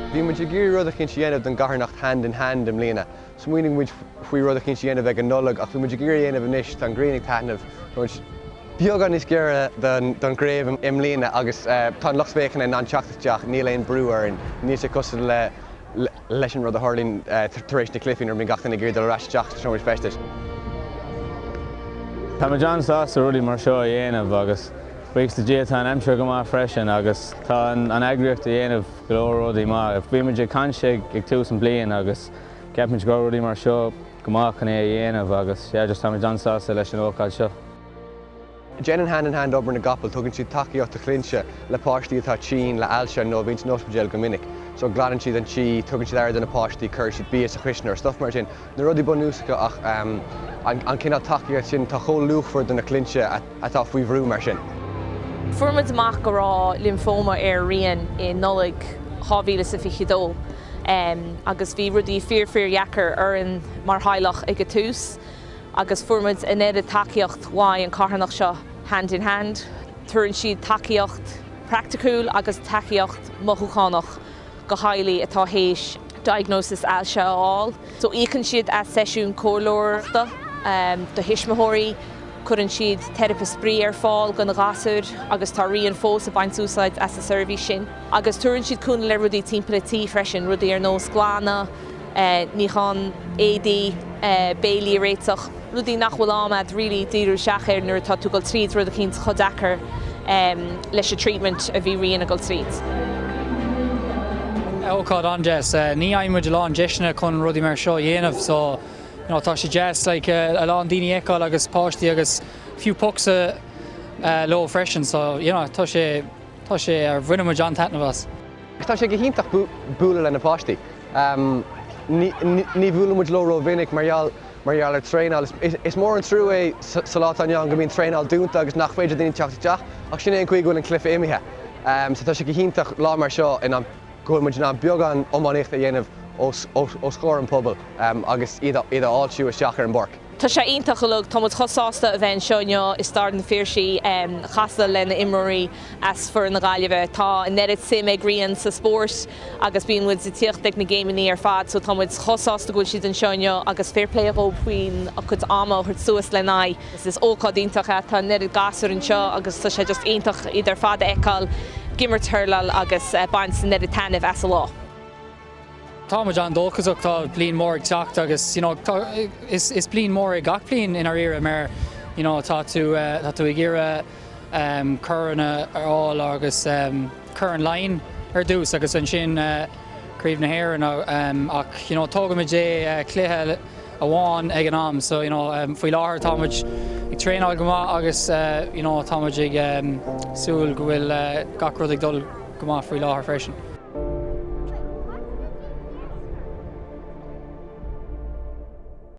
Bhí muid ag iarraidh rud eicínt a dhéanamh don gcarthanacht Hand in Hand i mbliana. Smaoinigh muid faoi rud eicínt a dhéanamh ag an Nollaig ach bhí muid ag iarraidh a dhéanamh anois, tá an ghrian ag taitneamh, tá muid beagán níos giorra don chraobh i mbliana agus tá an lucht féachana in ann teacht isteach, níl aon brú orainn, níl sé cosúil le. leis an rud a tharlaíonn tar éis na cluichí nuair a bhíonn gach duine ag iarraidh dul ar ais isteach sna seomraí feistis. Táimid an-sásta rudaí mar seo a dhéanamh agus buíochas le Dia tá an aimsir go maith freisin agus tá an eagraíocht a dhéanamh go leor rudaí maith. Bímid ag caint ag tús an bliain agus ceapaimid go rudaí mar seo go maith chun é a dhéanamh agus sea, just táimid an-sásta leis an ócáid seo. Déanann Hand in Hand obair na gcapall, tugann siad tacaíocht do chlinnte le páistí atá tinn le ailse nó a bhíonn san ospidéal go minic. So glanann siad an tí, tugann siad aire do na páistí, cuireann siad bia sa chuisneoir, stuff mar sin, na rudaí bunúsacha ach ehm an an cineál tacaíocht sin atá chomh luachmhar do na clinnte atá faoi bhrú mar sin. Fuair muid amach go raibh lymphoma ar Rian i Nollaig 2022 ehm agus bhí rudaí fíor fíor dheacair orainn mar theaghlach ag a tús, agus fuair muid an oiread tacaíocht ón carthanacht seo Hand in Hand. Tuarann siad tacaíocht praiticiúil agus tacaíocht mothúchánach do theaghlaigh atá théis diagnosis ailse a fháil. So íocann siad as seisiúin comhairleoireachta do thuismitheoirí, cuireann siad teiripe spraoi ar fáil do na gasúir agus tá Rian fós ag baint úsáid as an seirbhís sin. Agus tuarann siad cúnamh le rudaí timpeall a tí freisin, rudaí ar nós glanadh, níochán éadaí, béilí a réiteach, rudaí nach bhfuil am agat really díriú isteach air nuair atá tú ag dul tríd, rud eicínt chomh deacair leis an treatment a bhí Rian ag dul tríd. Ócáid an-deas. Ní fhaigheann muid a lán deiseanna chun rudaí mar seo a dhéanamh so you know tá sé deas like a lán daoine a fheiceáil agus páistí agus a few pucks leo freisin so you know tá sé Tá sé ar. Bhain muid an-taitneamh as. Agus tá sé go hiontach bualadh le na páistí. Ní bhuaileann muid leo ró-mhinic mar gheall mar gheall ar traenáil. Is mór an trua é sa lá atá inniu ann go mbíonn traenáil dúnta agus nach féidir daoine teacht isteach ach sin é an chaoi go bhfuil an cluife imithe. So tá sé go hiontach lá mar seo ina go bhfuil muid in ann beagán iománaíochta a dhéanamh os os os chomhair an pobal agus iad iad a fháiltiú isteach ar an bpáirc. Tá sé iontach go deo. Tá muid chomh sásta a bheith anseo inniu i Staid an Phiarsaigh ag casadh le na imreoirí as foireann na Gaillimhe. Tá an oiread suim ag Rian sa spórt agus bíonn muid ag tíocht ag na géimeannaí ar fad so tá muid chomh sásta go bhfuil siad anseo inniu agus fair play dhóib faoin a gcuid ama a thabhairt suas lena aghaidh agus is ócáid iontach é. Tá an oiread gasúir anseo agus tá sé just iontach iad ar fad a fheiceáil ag imirt hurláil agus baint an oiread taitneamh as a lá. Tá muid an-dóchasach, tá bliain mór ag teacht agus you know is bliain mór é gach bliain i ndáiríre mar you know tá tú tá tú ag iarradh ehm corn a fháil agus ehm corn Laighean ar dtús agus ansin eh craobh na hÉireann ehm ach you know tógfaimid é cluiche amháin ag an am. So, you know, faoi láthair tá muid ag traenáil go maith agus, you know, tá muid ag súil go bhfuil gach rud ag dul go maith faoi láthair freisin.